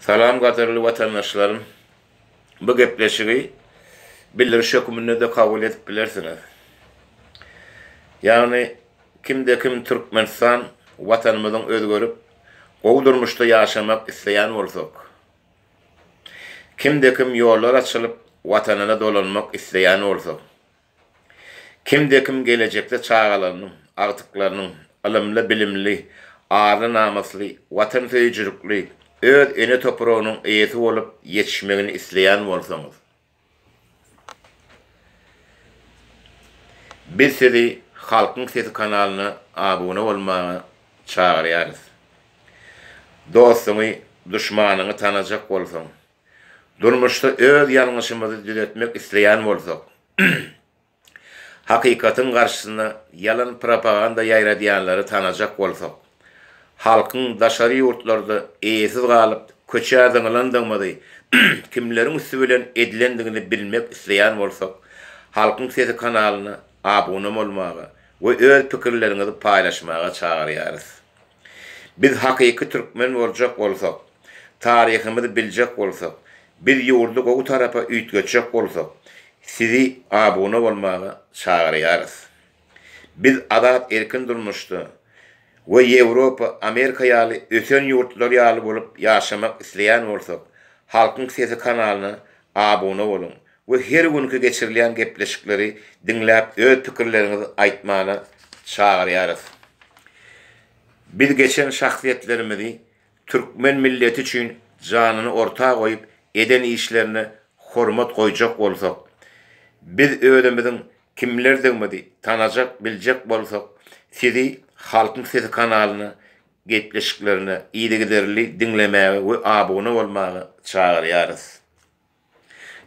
Salam gadyrly watandaşlarym! Bu gepleşigi bildiriş höküminde-de kabul edip bilersiňiz. Ýagny, kimde-kim Türkmenistan Watanymyzyň özgerip, gowy durmuşda ýaşamak isleýän bolsak, kimde-kim ýollar açylyp, Watanyna dolanmak isleýän bolsak, Kimde-kim gelejekde çagalarynyň, agtyklarynyň ylymly-bilimli, arly-namysly, watansöýüjilikli, öz ene topragynyň eýesi bolup ýetişmegini isleýän bolsaňyz, biz sizi Halkyň sesi kanalyna abuna bolmaga çagyrýarys. Dostuňy, duşmanyňy tanajak bolsaň, Durmuşda öz ýalňyşymyzy düzetmek isleýän bolsak, hakykatyň garşysyna ýalan propaganda ýaýradýanlary tanajak bolsak, halkyň daşary ýurtlarda eýesiz galyp, köçä zyňylandygymyzy, kimleriň üsti bilen edilendigini bilmek isleýän bolsak, Halkyň sesi kanalyna abuna bolmaga we öz pikirleriňizi paýlaşmaga çagyrýarys. Biz hakyky türkmen boljak bolsak, taryhymyzy biljek bolsak, biz ýurdy gowy tarapa üýtgetjek bolsak, sizi abuna bolmaga çagyrýarys. Biz azat erkin durmuşda we Ýewropa, Amerika ýaly ösen ýurtlar ýaly bolup ýaşamak isleýän bolsak, Halkyň sesi kanalyna abuna boluň we her günki geçirilýän gepleşikleri diňläp öz pikirleriňizi aýtmana çagyrýarys. Biz geçen şahsyýetlerimizi türkmen milleti üçin janyny orta goýup eden işlerine hormat goýjak bolsak, biz özümiziň kimlerdigimizi tanajak biljek bolsak sizi Halkyň sesi kanalyna gepleşiklerine yzygiderli diňlemäge we abuna bolmaga çagyrýarys.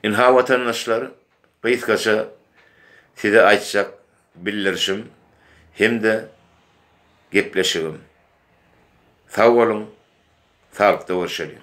Ynha watandaşlar, gysgaça size aýtjak bildirişim hem-de gepleşigim. Sag boluň, saglykda görşeliň!